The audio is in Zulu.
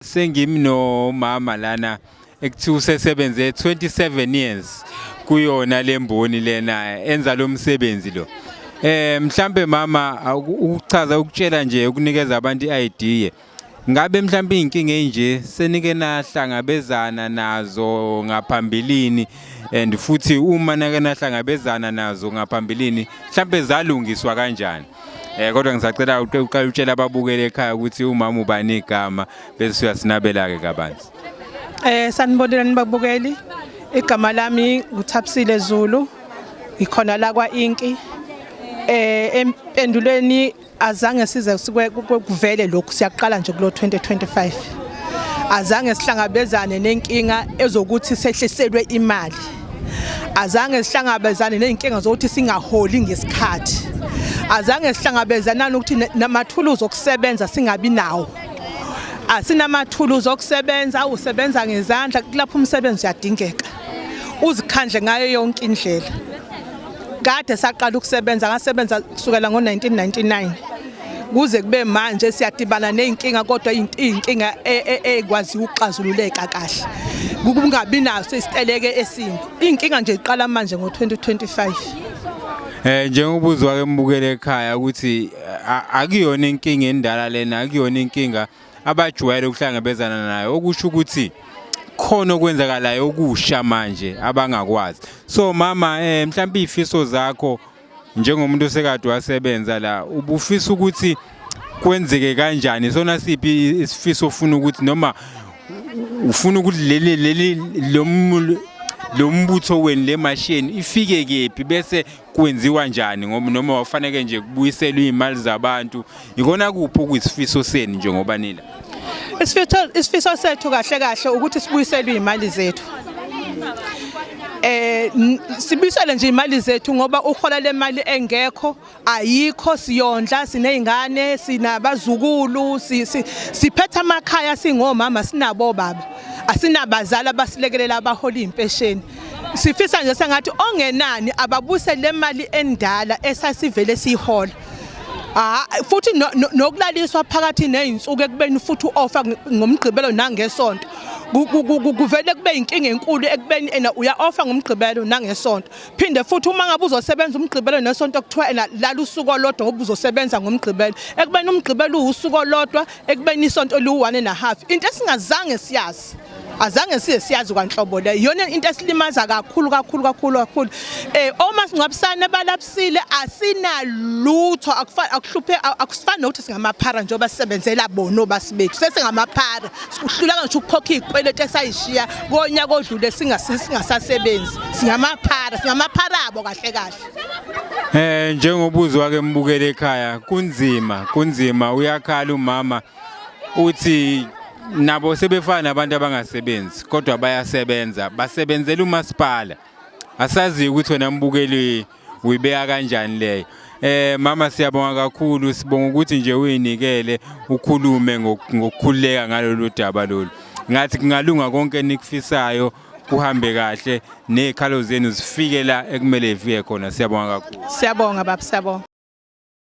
Sengimi nomama lana ekuthiwa usesebenze 27 years kuyona lemboni lena enza lo msebenzi lo. Eh mhlambe mama ukuchaza ukutshela nje ukunikeza abantu iID. Ngabe mhlambe izinkinga enje senike nahlangabezana nazo ngaphambilini and futhi uma nake nahlangabezana nazo ngaphambilini mhlambe zalungiswa kanjani? Eh kodwa ngisacela uqale utshela ababukeli ekhaya ukuthi umama ubani igama bese uyasinabela ke kabanzi. Eh sanibonela nibabukeli. Igama lami nguThabisile Zulu. Ngikhona la kwa Inki. Eh empendulweni azange size kuvele lokhu siyaqala nje kulo 2025. Azange sihlangabezane nenkinga ezokuthi sehliselwe imali. azange sihlangabezane nezinkinga zokuthi singaholi ngesikhathi azange sihlangabezana nokuthi namathuluzi okusebenza singabi nawo asinamathuluzi okusebenza usebenza ngezandla kulapho umsebenzi uyadingeka uzikhandle ngayo yonke indlela kade saqala ukusebenza ngasebenza kusukela ngo-1999 kuze kube manje siyadibana nezinkinga kodwa izinkinga e, e, e, ekwazi ukuxazululeka kahle kungabi naso isiteleke esimbi izinkinga nje iqala manje ngo-2025 Eh njengoba uzwa ke mbukele ekhaya ukuthi akuyona inkinga endala lena akuyona inkinga abajwayele ukuhlangabezana nayo okusho ukuthi khona okwenzakalayo okusha manje abangakwazi so mama eh mhlawumbe ifiso zakho njengomuntu osekade wasebenza la ubufisa ukuthi kwenzeke kanjani sona siphi isifiso ofuna ukuthi noma ufuna ukuthi leli leli lo mbutho wenu le masheni ifike kephi bese kwenziwa njani ngoba noma wafaneke nje kubuyiselwa iy'mali zabantu Yikona kuphi okuyisifiso senu njengoba nila? Isifiso isifiso sethu kahle kahle ukuthi sibuyiselwe imali zethu. Eh sibisele nje imali zethu ngoba uhola lemali engekho ayikho siyondla sinezingane sinabazukulu siphetha amakhaya singomama sinabo baba asinabazali abasilekelela abahola impesheni sifisa nje sengathi ongenani ababuse lemali endala esasivele siyihola Ah futhi nokulaliswa phakathi nezinsuku ekubeni futhi uofa ngomgqibelo nangesonto kuvele kube inkinga enkulu ekubeni ena uya offer ngomgqibelo nangesonto phinde futhi uma ngabe uzosebenza umgqibelo nesonto kuthiwa ena lala usuku olodwa ngoba uzosebenza ngomgqibelo ekubeni umgqibelo uwusuku olodwa ekubeni isonto liwu-one and a half into esingazange siyazi azange size siyazi kwanhlobo le iyona into esilimaza kakhulu kakhulu kakhulu kakhulu eh uma singcwabisane balapsile asinalutho akufani akuhluphe akusifani nokuthi singamaphara njengoba sisebenzela bona obasi bethu sesingamaphara sikuhlulanga ngisho ukukhokha izikweletu esayishiya konyaka odlule singasasebenzi singamaphara singamaphara abo kahle kahle Eh njengobuzo wake mbukele ekhaya kunzima kunzima uyakhala umama uthi nabo sebefana nabantu abangasebenzi kodwa bayasebenza basebenzela umasipala asazi ukuthi wena mbukeli uyibeka kanjani leyo eh mama siyabonga kakhulu sibonga ukuthi nje uyinikele ukhulume ngokukhuleka ngalolu daba lolu ngathi kungalunga konke enikufisayo kuhambe kahle nezikhalo zenu zifike la ekumele ifike khona siyabonga kakhulu siyabonga baba siyabonga